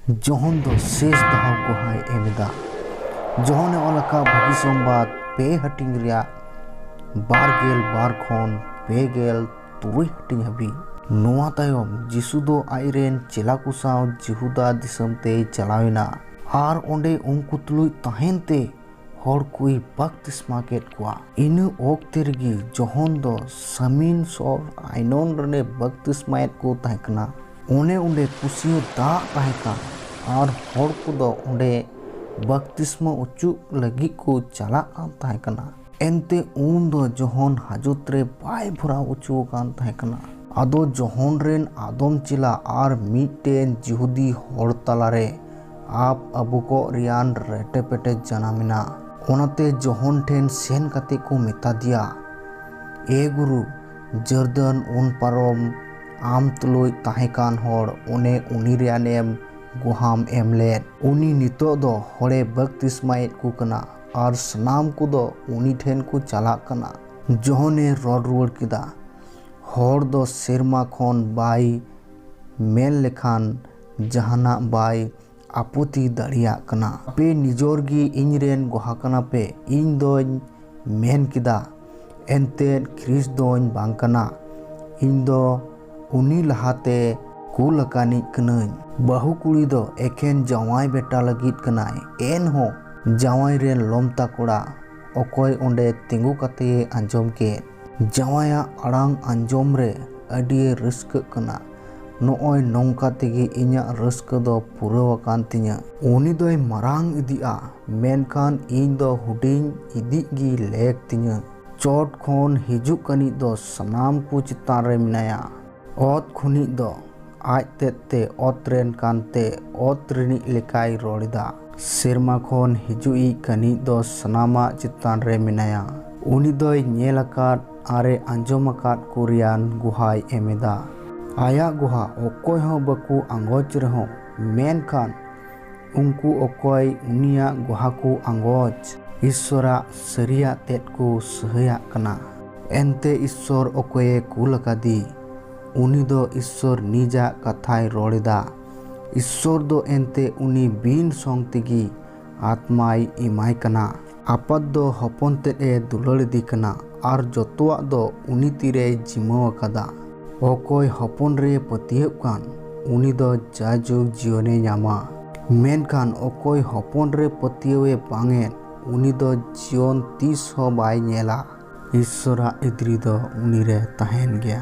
ᱡᱚᱦᱚᱱ ᱫᱚ ᱥᱮᱥ ᱫᱷᱟᱣ ᱜᱚᱦᱟᱭ ᱮᱢ ᱮᱫᱟ᱾ ᱡᱚᱦᱚᱱ ᱮ ᱚᱞ ᱟᱠᱟᱫᱼᱟ ᱵᱷᱟᱹᱜᱤ ᱥᱚᱢᱵᱟᱫᱽ ᱯᱮ ᱦᱟᱹᱴᱤᱧ ᱨᱮᱭᱟᱜ ᱵᱟᱨ ᱜᱮᱞ ᱵᱟᱨ ᱠᱷᱚᱱ ᱯᱮ ᱜᱮᱞ ᱛᱩᱨᱩᱭ ᱦᱟᱹᱴᱤᱧ ᱦᱟᱹᱵᱤᱡ᱾ ᱱᱚᱣᱟ ᱛᱟᱭᱚᱢ ᱡᱤᱥᱩ ᱫᱚ ᱟᱡ ᱨᱮᱱ ᱪᱮᱞᱟ ᱠᱚ ᱥᱟᱶ ᱡᱤᱦᱩᱫᱟ ᱫᱤᱥᱚᱢ ᱛᱮᱭ ᱪᱟᱞᱟᱣ ᱮᱱᱟ᱾ ᱟᱨ ᱚᱸᱰᱮ ᱩᱱᱠᱩ ᱛᱩᱞᱩᱡ ᱛᱟᱦᱮᱸᱱ ᱛᱮ ᱦᱚᱲ ᱠᱩᱭ ᱵᱟᱯᱛᱤᱥᱢᱟ ᱠᱮᱫ ᱠᱚᱣᱟ᱾ ᱤᱱᱟᱹ ᱚᱠᱛᱮ ᱨᱮᱜᱮ ᱡᱚᱦᱚᱱ ᱫᱚ ᱥᱟᱢᱤᱱ ᱥᱚᱨ ᱟᱭᱱᱚᱱ ᱨᱮᱱᱮ ᱵᱟᱯᱛᱤᱥᱢᱟᱭᱮᱫ ᱠᱚ ᱛᱟᱦᱮᱸ ᱠᱟᱱᱟ᱾ ᱚᱱᱮ ᱚᱸᱰᱮ ᱠᱩᱥᱤᱭᱟᱹ ᱫᱟᱜ ᱛᱟᱦᱮᱸ ᱠᱟᱱ ᱟᱨ ᱦᱚᱲ ᱠᱚᱫᱚ ᱚᱸᱰᱮ ᱵᱟᱯᱛᱤᱥᱢᱟ ᱚᱪᱚᱜ ᱞᱟᱹᱜᱤᱫ ᱠᱚ ᱪᱟᱞᱟᱜ ᱠᱟᱱ ᱛᱟᱦᱮᱸ ᱠᱟᱱᱟ᱾ ᱮᱱᱛᱮ ᱩᱱ ᱫᱚ ᱡᱚᱦᱚᱱ ᱦᱟᱡᱚᱛ ᱨᱮ ᱵᱟᱭ ᱵᱷᱚᱨᱟᱣ ᱚᱪᱚ ᱟᱠᱟᱱ ᱛᱟᱦᱮᱸ ᱠᱟᱱᱟ᱾ ᱟᱫᱚ ᱡᱚᱦᱚᱱ ᱨᱮᱱ ᱟᱫᱚᱢ ᱪᱮᱞᱟ ᱟᱨ ᱢᱤᱫᱴᱮᱱ ᱡᱤᱦᱩᱫᱤ ᱦᱚᱲ ᱛᱟᱞᱟ ᱨᱮ ᱟᱯ ᱟᱵᱚ ᱠᱚᱜ ᱨᱮᱭᱟᱱ ᱨᱮᱴᱮ ᱯᱮᱴᱮ ᱡᱟᱱᱟᱢ ᱮᱱᱟ᱾ ᱚᱱᱟᱛᱮ ᱡᱚᱦᱚᱱ ᱴᱷᱮᱱ ᱥᱮᱱ ᱠᱟᱛᱮ ᱠᱚ ᱢᱮᱛᱟ ᱫᱮᱭᱟ, ᱮ ᱜᱩᱨᱩ, ᱡᱚᱨᱫᱟᱱ ᱩᱱ ᱯᱟᱨᱚᱢ ᱟᱢ ᱛᱩᱞᱩᱡ ᱛᱟᱦᱮᱸ ᱠᱟᱱ ᱦᱚᱲ ᱚᱱᱮ ᱩᱱᱤ ᱨᱮᱭᱟᱱ ᱮᱢ ᱜᱚᱦᱟᱢ ᱮᱢ ᱞᱮᱫ᱾ ᱩᱱᱤ ᱱᱤᱛᱚᱜ ᱫᱚ ᱦᱚᱲᱮ ᱵᱟᱹᱯᱛᱤᱥᱢᱟᱭᱮᱫ ᱠᱚ ᱠᱟᱱᱟ ᱟᱨ ᱥᱟᱱᱟᱢ ᱠᱚ ᱫᱚ ᱩᱱᱤ ᱴᱷᱮᱱ ᱠᱚ ᱪᱟᱞᱟᱜ ᱠᱟᱱᱟ᱾ ᱡᱚᱦᱚᱱ ᱮ ᱨᱚᱲ ᱨᱩᱣᱟᱹᱲ ᱠᱮᱫᱟ, ᱦᱚᱲ ᱫᱚ ᱥᱮᱨᱢᱟ ᱠᱷᱚᱱ ᱵᱟᱭ ᱢᱮᱱ ᱞᱮᱠᱷᱟᱱ᱾ ᱡᱟᱦᱟᱱᱟᱜ ᱵᱟᱭ ᱟᱯᱚᱛᱤ ᱫᱟᱲᱮᱭᱟᱜ ᱠᱟᱱᱟ᱾ ᱟᱯᱮ ᱱᱤᱡᱚᱨ ᱜᱮ ᱤᱧ ᱨᱮᱱ ᱜᱚᱦᱟ ᱠᱟᱱᱟ ᱯᱮ᱾ ᱤᱧ ᱫᱚᱧ ᱢᱮᱱ ᱠᱮᱫᱟ, ᱮᱱᱛᱮ ᱠᱷᱨᱤᱥᱴ ᱫᱚᱧ ᱵᱟᱝ ᱠᱟᱱᱟ, ᱤᱧ ᱫᱚ ᱩᱱᱤ ᱞᱟᱦᱟᱛᱮ ᱠᱩᱞ ᱟᱠᱟᱱᱤᱡ ᱠᱟᱹᱱᱟᱹᱧ᱾ ᱵᱟᱹᱦᱩ ᱠᱩᱲᱤ ᱫᱚ ᱮᱠᱷᱮᱱ ᱡᱟᱶᱟᱭ ᱵᱮᱴᱟ ᱞᱟᱹᱜᱤᱫ ᱠᱟᱱᱟᱭ᱾ ᱮᱱᱦᱚᱸ ᱡᱟᱶᱟᱭ ᱨᱮᱱ ᱞᱚᱢᱛᱟ ᱠᱚᱲᱟ ᱚᱠᱚᱭ ᱚᱸᱰᱮ ᱛᱤᱸᱜᱩ ᱠᱟᱛᱮᱭᱮ ᱟᱸᱡᱚᱢ ᱠᱮᱫ᱾ ᱡᱟᱶᱟᱭᱟᱜ ᱟᱲᱟᱝ ᱟᱸᱡᱚᱢ ᱨᱮ ᱟᱹᱰᱤᱭᱮ ᱨᱟᱹᱥᱠᱟᱹᱜ ᱠᱟᱱᱟ᱾ ᱱᱚᱜᱼᱚᱭ ᱱᱚᱝᱠᱟ ᱛᱮᱜᱮ ᱤᱧᱟᱜ ᱨᱟᱹᱥᱠᱟᱹ ᱫᱚ ᱯᱩᱨᱟᱹᱣ ᱟᱠᱟᱱ ᱛᱤᱧᱟᱹ᱾ ᱩᱱᱤ ᱫᱚᱭ ᱢᱟᱨᱟᱝ ᱤᱫᱤᱜᱼᱟ ᱢᱮᱱᱠᱷᱟᱱ ᱤᱧ ᱫᱚ ᱦᱩᱰᱤᱧ ᱤᱫᱤᱜ ᱜᱮ ᱞᱮᱠ ᱛᱤᱧᱟᱹ᱾ ᱪᱚᱴ ᱠᱷᱚᱱ ᱦᱤᱡᱩᱜ ᱠᱟᱱᱤᱡ ᱫᱚ ᱥᱟᱱᱟᱢ ᱠᱚ ᱪᱮᱛᱟᱱ ᱨᱮ ᱢᱮᱱᱟᱭᱟ᱾ ᱚᱛ ᱠᱷᱚᱱᱤᱡ ᱫᱚ ᱟᱡ ᱛᱮᱫ ᱛᱮ ᱚᱛ ᱨᱮᱱ ᱠᱟᱱ ᱛᱮ ᱚᱛ ᱨᱤᱱᱤᱡ ᱞᱮᱠᱟᱭ ᱨᱚᱲ ᱮᱫᱟ᱾ ᱥᱮᱨᱢᱟ ᱠᱷᱚᱱ ᱦᱤᱡᱩᱜ ᱤᱡ ᱠᱟᱱᱤᱡ ᱫᱚ ᱥᱟᱱᱟᱢᱟᱜ ᱪᱮᱛᱟᱱ ᱨᱮ ᱢᱮᱱᱟᱭᱟ᱾ ᱩᱱᱤ ᱫᱚᱭ ᱧᱮᱞ ᱟᱠᱟᱫ᱾ ᱟᱨᱮ ᱟᱸᱡᱚᱢ ᱟᱠᱟᱫ ᱠᱚ ᱨᱮᱭᱟᱱ ᱜᱩᱦᱟᱭ ᱮᱢ ᱮᱫᱟ᱾ ᱟᱭᱟᱜ ᱜᱩᱦᱟ ᱚᱠᱚᱭ ᱦᱚᱸ ᱵᱟᱠᱚ ᱟᱸᱜᱚᱪ ᱨᱮᱦᱚᱸ ᱢᱮᱱᱠᱷᱟᱱ ᱩᱱᱠᱩ ᱚᱠᱚᱭ ᱩᱱᱤᱭᱟᱜ ᱜᱩᱦᱟ ᱠᱚ ᱟᱸᱜᱚᱪ᱾ ᱤᱥᱥᱚᱨᱟᱜ ᱥᱟᱹᱨᱤᱭᱟᱜ ᱛᱮᱫ ᱠᱚ ᱥᱟᱹᱦᱟᱹᱭᱟᱜ ᱠᱟᱱᱟ᱾ ᱮᱱᱛᱮ ᱤᱥᱥᱚᱨ ᱚᱠᱚᱭᱮ ᱠᱩᱞ ᱟᱠᱟᱫᱮ ᱩᱱᱤ ᱫᱚ ᱤᱥᱥᱚᱨ ᱱᱤᱡᱟᱜ ᱠᱟᱛᱷᱟᱭ ᱨᱚᱲ ᱮᱫᱟ᱾ ᱤᱥᱥᱚᱨ ᱫᱚ ᱮᱱᱛᱮ ᱩᱱᱤ ᱵᱤᱱ ᱥᱚᱝ ᱛᱮᱜᱮ ᱟᱛᱢᱟᱭ ᱮᱢᱟᱭ ᱠᱟᱱᱟ᱾ ᱟᱯᱟᱛ ᱫᱚ ᱦᱚᱯᱚᱱ ᱛᱮᱫ ᱮ ᱫᱩᱞᱟᱹᱲ ᱮᱫᱮ ᱠᱟᱱᱟ ᱟᱨ ᱡᱚᱛᱚᱣᱟᱜ ᱫᱚ ᱩᱱᱤ ᱛᱤ ᱨᱮᱭ ᱡᱤᱢᱟᱹ ᱟᱠᱟᱫᱟ᱾ ᱚᱠᱚᱭ ᱦᱚᱯᱚᱱ ᱨᱮᱭ ᱯᱟᱹᱛᱭᱟᱹᱜ ᱠᱟᱱ ᱩᱱᱤ ᱫᱚ ᱡᱟᱭᱡᱩᱜᱽ ᱡᱤᱭᱚᱱ ᱮ ᱧᱟᱢᱟ᱾ ᱢᱮᱱᱠᱷᱟᱱ ᱚᱠᱚᱭ ᱦᱚᱯᱚᱱ ᱨᱮ ᱯᱟᱹᱛᱭᱟᱹᱣ ᱮ ᱵᱟᱝ ᱮᱫ ᱩᱱᱤ ᱫᱚ ᱡᱤᱭᱚᱱ ᱛᱤᱥ ᱦᱚᱸ ᱵᱟᱭ ᱧᱮᱞᱟ᱾ ᱤᱥᱥᱚᱨ ᱟᱜ ᱤᱫᱽᱨᱤ ᱫᱚ ᱩᱱᱤ ᱨᱮ ᱛᱟᱦᱮᱸᱱ ᱜᱮᱭᱟ᱾